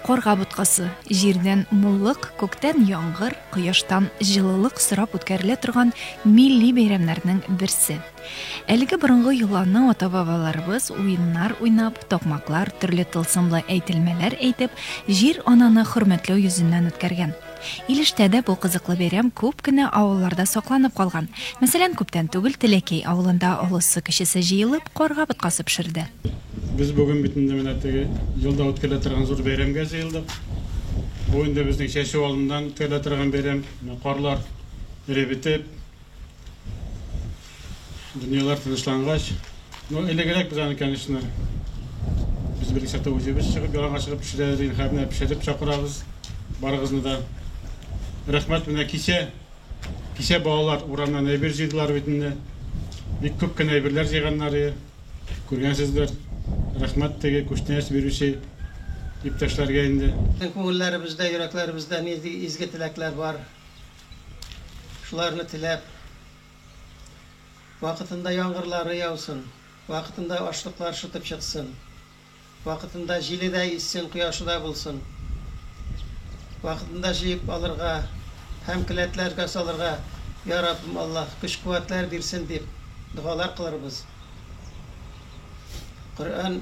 Карга боткасы, җирдән муллык, күктән яңгыр, кояштан җылылык сорап үткәрелә торган милли бәйрәмнәрнең берсе. Әлеге борынгы йоланы ата-бабаларыбыз уеннар уйнап, токмаклар, төрле тылсымлы әйтелмәләр әйтеп, җир ананы хөрмәтләү йөзеннән үткәргән. Илештә дә бу кызыклы бәйрәм күп кенә авылларда сакланып калган. Мәсәлән, күптән түгел Теләкәй авылында олысы-кечесе җыелып, карга боткасы пешерде. Без бүген бит инде менә теге елда үткәрелә торган зур бәйрәмгә җыелдык. Бу инде безнең чәчү алдыннан үткәрелә торган бәйрәм. Менә карлар эре бетеп, Дөньялар тынычлангач, ну, элегрәк без аны, конечно, без бер исәптә үзебез чыгып, яланга чыгып пешерә идек, хәзер менә пешереп чакырабыз барыгызны да. Рәхмәт, менә кичә, кичә балалар урамнан әйбер җыйдылар бит инде. Бик күп кенә әйберләр җыйганнар иде. Күргәнсездер. Рәхмәт теге күчтәнәч бирүче иптәшләргә инде. Күңелләребездә, йөрәкләребездә нинди изге теләкләр бар? Шуларны теләп, вакытында яңгырлары яусын, вакытында ашлыклар шытып чыксын, вакытында җиле дә иссен, кояшы да булсын, вакытында җыеп алырга һәм келәтләргә салырга, я Раббым Аллаһ, көч-куәтләр бирсен, дип догалар кылырбыз. Коръән.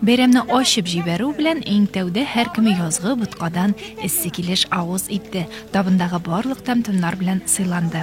Бәйрәмне ачып җибәрү белән иң тәүдә һәркем язгы боткадан эссе килеш авыз итте, табындагы барлык тәм-томнар белән сыйланды.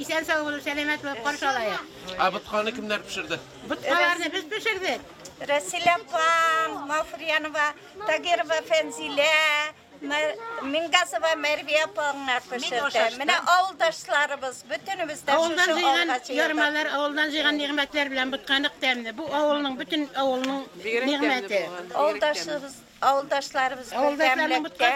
Исән сау булып, сәламәт булып каршы алайык. Ә ботканы кемнәр пешерде? Боткаларны без пешердек. Рәсилә апам, Мафриянова, Тагирова Фәнзилә, Мингазова Мәрвия апаңа пешерде. Менә авылдашларыбыз, бөтенебез дә Авылдан шушы җыйган алга чыгардык. ярмалар, авылдан җыйган нигъмәтләр белән ботканык тәмле. Бу авылның бөтен авылның нигъмәте. Авылдашыбыз Авылдашларыбыз бердәмлектә.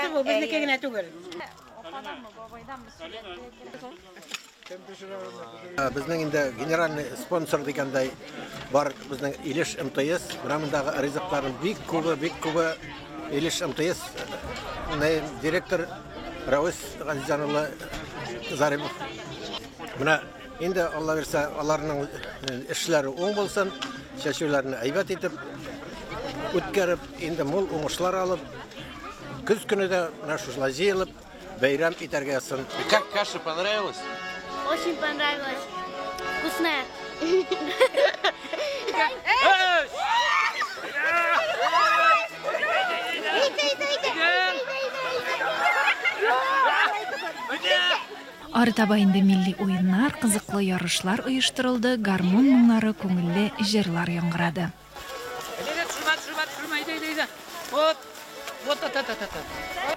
Безнең инде генеральный спонсор дигәндәй бар безнең Илеш МТС. Менә мондагы ризыкларның бик күбе, бик күбе Илеш МТС директор Рәвис Газизҗан улы Заримов. Менә Инде Алла бирсә, аларның эшләре уң булсын, чәчүләрне әйбәт итеп үткәреп, инде мул уңышлар алып, көз көне дә менә шушылай җыелып, бәйрәм итәргә язсын. Как каша понравилась? Очень понравилось. Вкусная. Арытаба инде милли уеннар, кызыклы ярышлар оештырылды, гармун моңнары, күңелле җырлар яңгырады.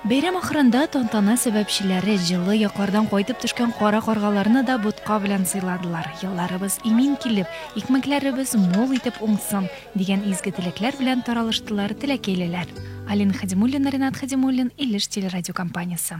Бәйрәм ахырында тантана сәбәпчеләре җылы яклардан кайтып төшкән кара каргаларны да ботка белән сыйладылар, елларыбыз имин килеп, икмәкләребез мул итеп уңсын, дигән изге теләкләр белән таралыштылар теләкәйлеләр. Алина Хәдимуллина, Ренат Хәдимуллин, Илеш телерадиокомпаниясе.